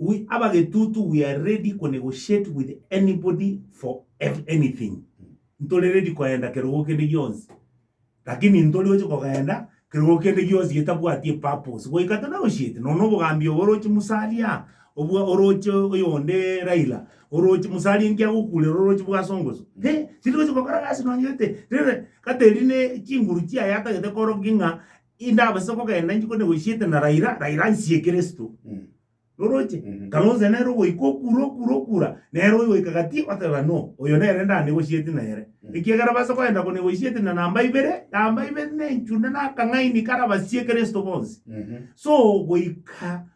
We have a getutu we are ready ko negotiate with anybody for ev anything ntore ready koenda kerogo kende gionsi lakini ntori oche kogenda kerogo kende gionsi getabwati epurpose goika to negotiate nonya obogambi obo oroche musalia obwa oroche oyonde Raila oroche musalia enki agokurera oroche bwasongoso eh chiri gocha gokora gasi nonye gete rere gateri ne chinguru chiaye atagete korokia ng'a. Indabase kogenda inche kone goisiete na Raila, Raila ansie Kristo. Roroche? Kalonzo nere ogoika okura okura okura, nere oyogoika gati oteba no, oyo nere ndanegosieti nere. Ekiagera base kogenda konegosieti na namba ibere, namba ibere nenchune na akang'aini karabasie Kristo bonsi. So goika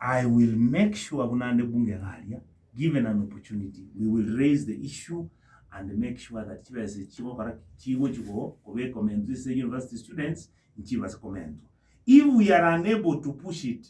I will make sure buna nde bunge iga aria, given an opportunity, we will raise the issue and make sure that chibesa echi chigokora ki? Chigochi ko, kobekwa mento ase university students, nchibase komentwa. If we are unable to push it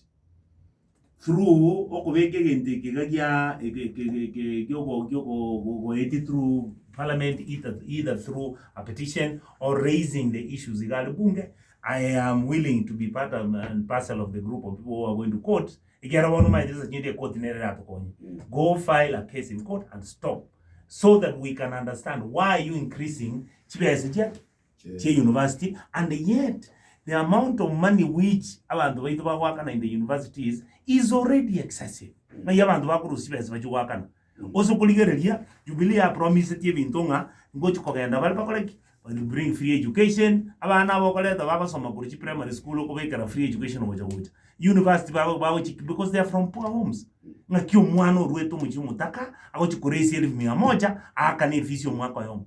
through okobeka egento eke iga gia, eke- eke- eke- eke- giogo- giogo- go- goeti through parliament, either, either through a petition or raising the issues iga are bunge, I am willing to be part of, and parcel of the group of people who are going to court. Ekiara bono omanyete ase chinyiti ekoti nere eratokonye. Go file a case in court and stop so that we can understand why are you increasing chibesa chia chia university and yet the amount of money which abanto baito bagoakana in the universities is already excessive. Ng'ai abanto bakorusia chibesa bachia goakana Gose okorigereria, Jubilee yapromisetie ebinto ng'a ngochia kogenda bare bakore ki? Will bring free education, abana aba okoreta bagosoma korwa chiprimary school okobekera free education gocha gocha. University bago bagochia because they are from poor homes. Ng'aki omwana orwete omochie omotaka agochia koraise elfu mia moja aakane efees ya omwaka oyomo.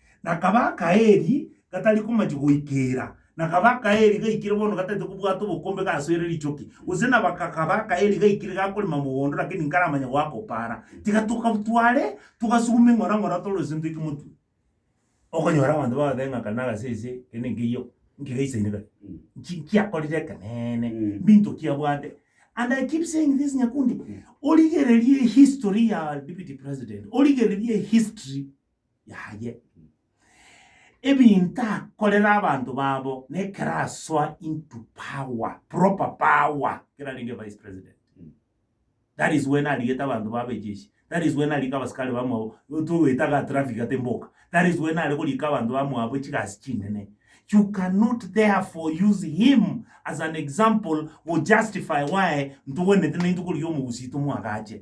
Na kaba akaeri gatari komachi goikeera, na kaba akaeri gaikire bono gataete kobwata obokombe gasoire richoki, gose na baka kaba akaeri gaikire gakorema mogondo lakini nkaramanya goaka opaara, tiga tokabtware, togasuguma eng'ora ng'ora tore ase ntoike motwe. Okonyora abanto bagotebi ng'a kare nagase ase kende nkeiyo nkegaisaine kare, nki nkiakorire ekeneene, mbinto ki abwate. And I keep saying this Nyakundi, origererie history ya deputy president, origererie history. yaye. Ebinto akorera abanto babo nekero asoa into power, proper power, ekero arenge vice president. That is when arigete abanto babo ejeshi. That is when arika abasikari bamwabo togoeta ga traffic ate mboka. That is when are korika abanto bamwabo chigasi chinene. You cannot therefore use him as an example go justify why ntogwenerete naintwe korigia omogusii tomwagache.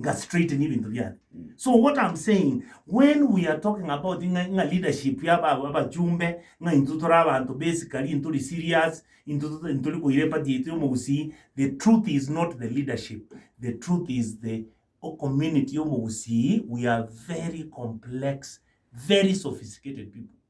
nga straighten ebinto biane so what am saying when we are talking about ng'a ng'a leadership ya aba- abachumbe ng'a intwe tore abanto basically ntori serious intwe to- ntori koira epati yaito ya omogusii the truth is not the leadership the truth is the o- community ya omogusii we are very complex very sophisticated people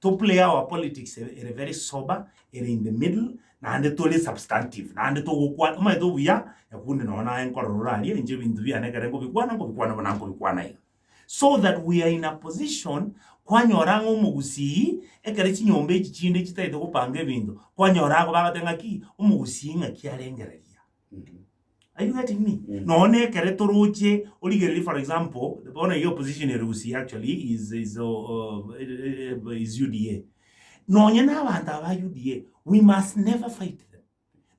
To play our politics ere ere very sober, ere in the middle, naende tore substantive, naende togokwa omanyete obuya, Nyakunde nonya naye nkorora ore aria, inche ebinto biane ekero nkobikwana, nkobikwana buna nkobikwana iga. So that we are in a position kwanyora ng'a omogusii ekero chinyomba echi chinde chitagete gopanga ebinto, kwanyora ago bagoteba ng'aki, omogusii ng'aki arengereria. Are you getting me? Mm. Nonya na ekere toroche origereri for example bono iga opposition ere Gusii actually is is uh, uh, eh, eh, is UDA. Nonya na abanto aba UDA we must never fight them.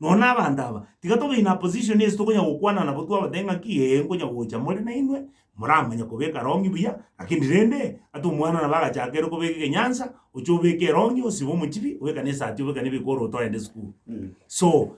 Nonya na abanto aba tiga tobe in a position ase tokonya gokwana nabo twabate ng'aki ee nkonya gocha more na inwe moramanya kobeka rongi buya lakini rende ata omwana nabo agachaka ere kobeka egenyansa oche obeke erongi osibe omochibi obekane esati obekane ebikoro otoende sukuru. so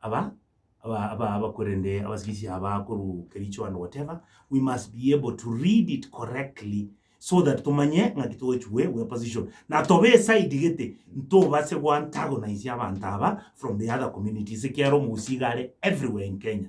aba aba aba aba korende abasibisia aba koru kericho and whatever we must be able to read it correctly so that tumanye ng'aki tochigwe we position na tobe eside gete ntobase goantagonize abanto aba from the other communities ekiara omogusi iga are everywhere in kenya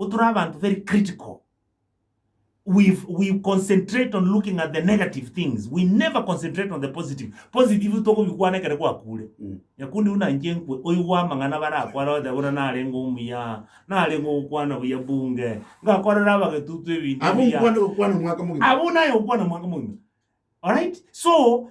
Igo tore abanto very critical. We we concentrate on looking at the negative things. We never concentrate on the positive. Positive tokobikwana ekero gwakure. Nyakundi buna inche nkwe, oigwe amang'ana barakware oteba buna narenge omuya, narenge ogokwana buya bunge, ngakorera abagetutu ebinto Abwo ebiya. nkwane gokwana omwaka mogima. Abwo naye ogokwana omwaka mogima. Alright? So,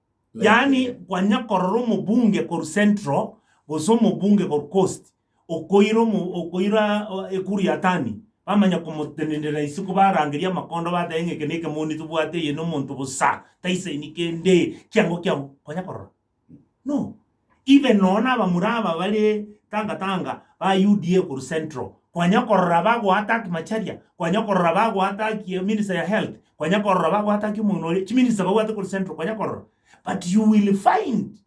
Yaani kwanya korora omobunge korwa central gose omobunge korwa coast okoira omo okoira ekuru ya tani bamanya komotenenera isiko barangerie amakondo batebe ng'a eke na eke moni tobwate eye nomonto bosa taisaini kende kiango kiango kwanya korora? No. Inwe nonya nabamura aba bare tanga tanga ba UDA korwa central kwanya korora bago attack Macharia kwanya korora bago attack minister ya health kwanya korora bago attack omogina oria chi minister babwate korwa central kwanya korora but you will find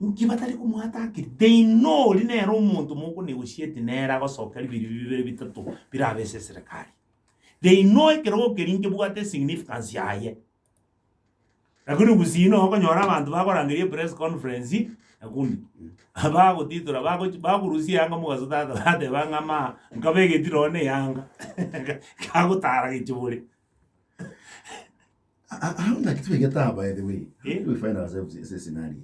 inki batari komo attackiri they know ori nere omonto mogo negotiate nere agosoka biri bibere bitato birabe ase eserekari they know ekerogo keri nkebwate significance yaye. Lakini gusii no okonyora abanto bakorangeria epress conference nakundi bagotitora bagochi bakorusia eyanga mogaso tata bateba ng'a maa nkabe egeti nonye na eyanga kagotara gechibore Aa- aa- aa- ngaki twegete aba by the way. How Eh? do we find ourselves in this scenario?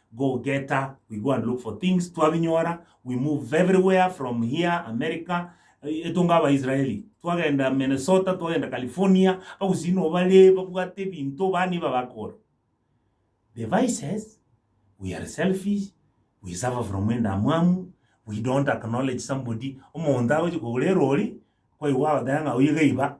Go getter, we go and look for things, twabinyora, we move everywhere from here, America, etonga abaisraeli, twagenda Minnesota, twagenda California, abagusii no bare babwate ebinto ba niba bakora. The vices, we are selfish, we suffer from endamwamu, we don't acknowledge somebody, omonto agochi kogora erori, kwaigwa agoteba ng'a oyo gaiba,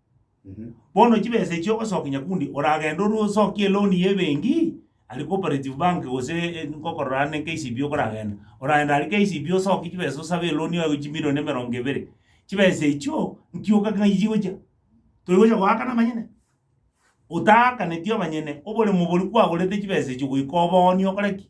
Bono chibesa echio ogosokia nyakundi oragende orwe osokie eloan ya ebenki aria cooperative bank gose eh, ngokorora are ne KCB okoragenda. Oragenda aria KCB osokie chibesa osabe eloan yago chimilion emerongo ebere. Chibesa echio nkioka ng'ai chigochia? Toigocha goakana amanyene? Otaakaneti amanyene, oboremo boria kwagorete chibesa echio goika obooni okore ki?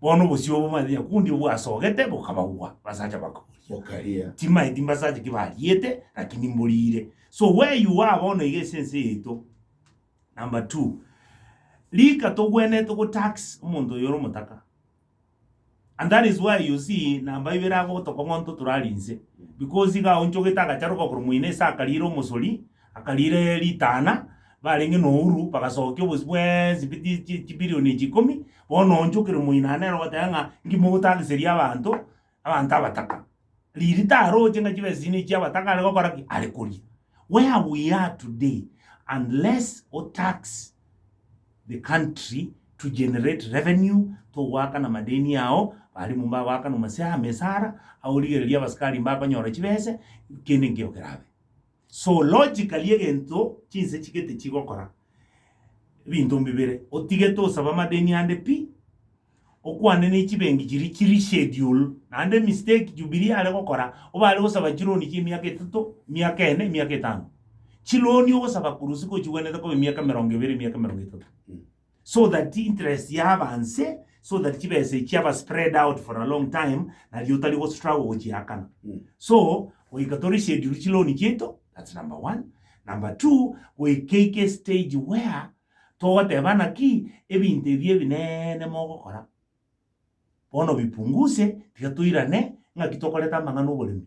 Bono obosio obo manyete nyakundi bwasogete bokabagwa, basacha bakaboria. Bokaria. Timanyeti mbasacha ki bariete, lakini mborire. So where you are bono iga ase ense yaito. Number two, rika togwenerete go tax omonto oyo ore omotaka. And that is why you see namba ibere agotoka ng'onto torari inse. Because iga aonchogete agacharoka korwa moino ase akarire omosori, Akariira ritana, barenge nouru bagasokia obosio bwensi bwe chi- chi- chibilion echi ikomi, bono onchokire moino nere ogoteba ng'a inki mogotageseria abanto, abanto abataka. Riiri taroche ng'a chibe esesini echi chi'abataka are gokora ki? Are koria. Where we are today, unless o tax the country to generate revenue, togoakana madeni ao, balimu mbagoakana mase amesara, aorigereria abasikari mbakonyora chibese, kende nkeigo kerabe. Zoologically egento chinse chigete chigokora ebinto mbibere otigete osaba amadeni ande pi okwane ne chibengi chiri chiri schedule naende mistake jubilee are gokora obare gosaba chironi chie emiaka etato emiaka ene emiaka etano chironi ogosaba korwa ase kochigwenerete kobe emiaka emerongo ebere emiaka emerongo etato. so that interest ya abanse so that chibesa echi aba spread out for a long time nario otari go struggle gochiakana Mm. so goika tori schedule chi loan chiaito that's number one number two goika ike stage where togoteba naki ebinto ebi ebinene mogokora bono bipunguse tiga toirane ng'aki tokorete amang'ana oboremi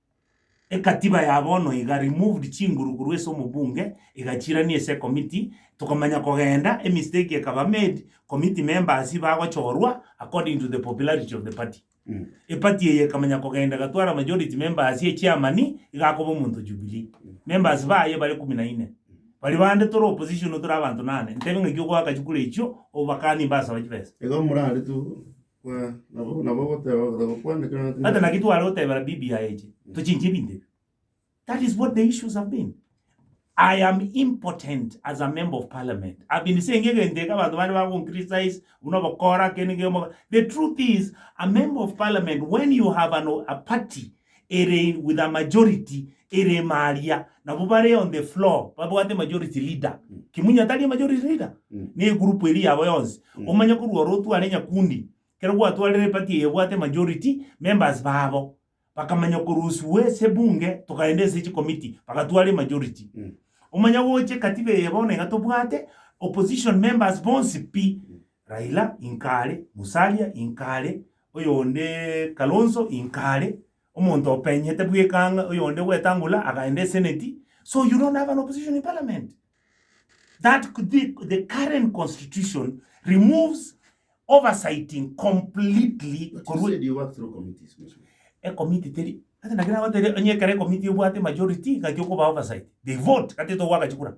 Ekatiba ya bono iga removed chinguru korwa ase omobunge egachirania ase ekomiti tokomanya kogenda emistake ekaba made committee members bagochorwa according to the popularity of the party eparty eye ekamanya kogenda egatwara majority members echairman igakoba omonto jubilee members baye bare kumi na ine baria bande tore opposition tore abanto nane ntebe ng'aki ogoaka chikura echio obakanie mbasaba chibesa. Igo morarete oo. Buna nabo nabo ogoteba ogotaka okwana ekero Hata natindete. naki tware otebera bibi yaye eche, tochinche ebinto ebi. That is what the issues have been. I am impotent as a member of parliament. I've been saying egento eke abanto bande bagoncriticize, buna obokora, kende kende. The truth is, a member of parliament, when you have an, a party ere with a majority ere ime aria nabo bare on the floor babwate majority leader kimunya tari majority leader Mm. ne group eri yabo yonsi Mm. omanye korwa oro otware nyakundi kero gwatwarire party eye ebwate majority members babo bakamanya koruswe ase ebunge tokaenda ase chikomiti bagatware majority Mm. omanye gocha ekatiba eye bono iga tobwate opposition members bonsi pi Raila inka are, Musalia inka are, oyonde Kalonzo inka are, omonto openyete bweka ng'a oyonde Wetangula akaenda eseneti, so you don't have an opposition in parliament. That the, the current constitution removes oversighting completely But you korwa said you work through committees, Mheshimiwa. ekomiti teri gati naki nagoteire onye ekero ekomiti ebwate majority gati okoba oversight they vote gati togoaka chikura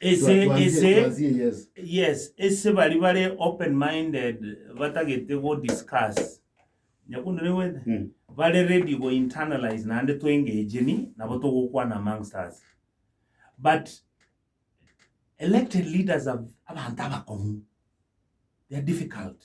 Ase ase yes ase bari bare open minded batagete go discuss nyakunere gwete Mm. bare ready go internalize naende to engage ni nabo togokwana amongst us but elected leaders are abanto abakong'u they are difficult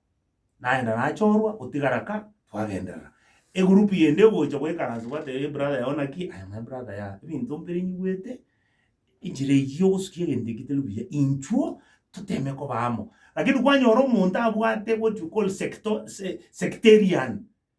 naenda nachorwa otigara ka twagenderera. Egroup yende egocha goikaransa gwateba ee brother yao naki aye naye brother ya ebinto mpire nyigwete enchera eyio yogosukia egento ekio teri buya inchuo toteme koba amo. Lakini kwanyora omonto abwate what you call secto sectarian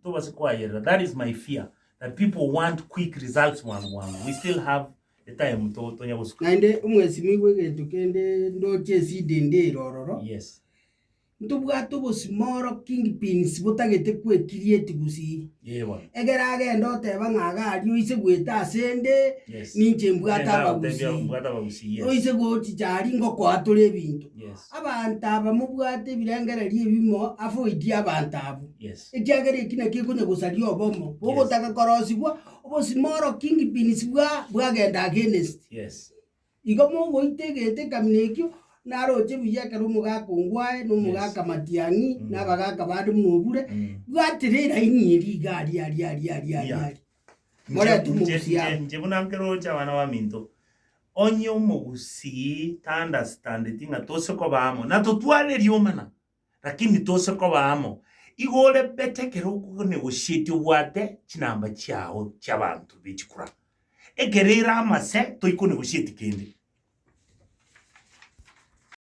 Ntobase kwayerera that is my fear that people want quick results bwango bwango we still have etime to tonya gosuka. Naende omwesimigwe egento kende ndoche esidi ndire ororo. Yes. Ntobwate obosima oro king pins botagete kwe create gusii. Yee bono. Egere agende oteba ng'a iga aria oise gweta ase nde Yes. ninche mbwate Nenda abagusii. gotebia mbwate abagusii yes. Oise gochicha aria ngokoa tore ebinto. Yes. Abanto aba mobwate ebirengererio ebimo ase oiti y'abanto abwo, ekiagera eki nakio ekonya gosaria obomo, bogotaka korosibwa, obosima oro kingpins bwa bwagenda against. Igo mogoita egento ekamina ekio, naroche buya ekero omogaka ongwe aye, na omogaka matiang'i, na abagaka bande buna obure, bwatire eraini eria iga aria aria aria aria aria aria. Moretu Inche- mogusi inche- amo. inche buna nkeroche abana baminto onye omogusii taandastandeti ng'a tose koba amo natotware erioma na lakini tose koba amo igo ore bete ekero okonegoshietie obwate chinamba chiago chiabanto bechikura ekero ere amase toikonegosheti kende.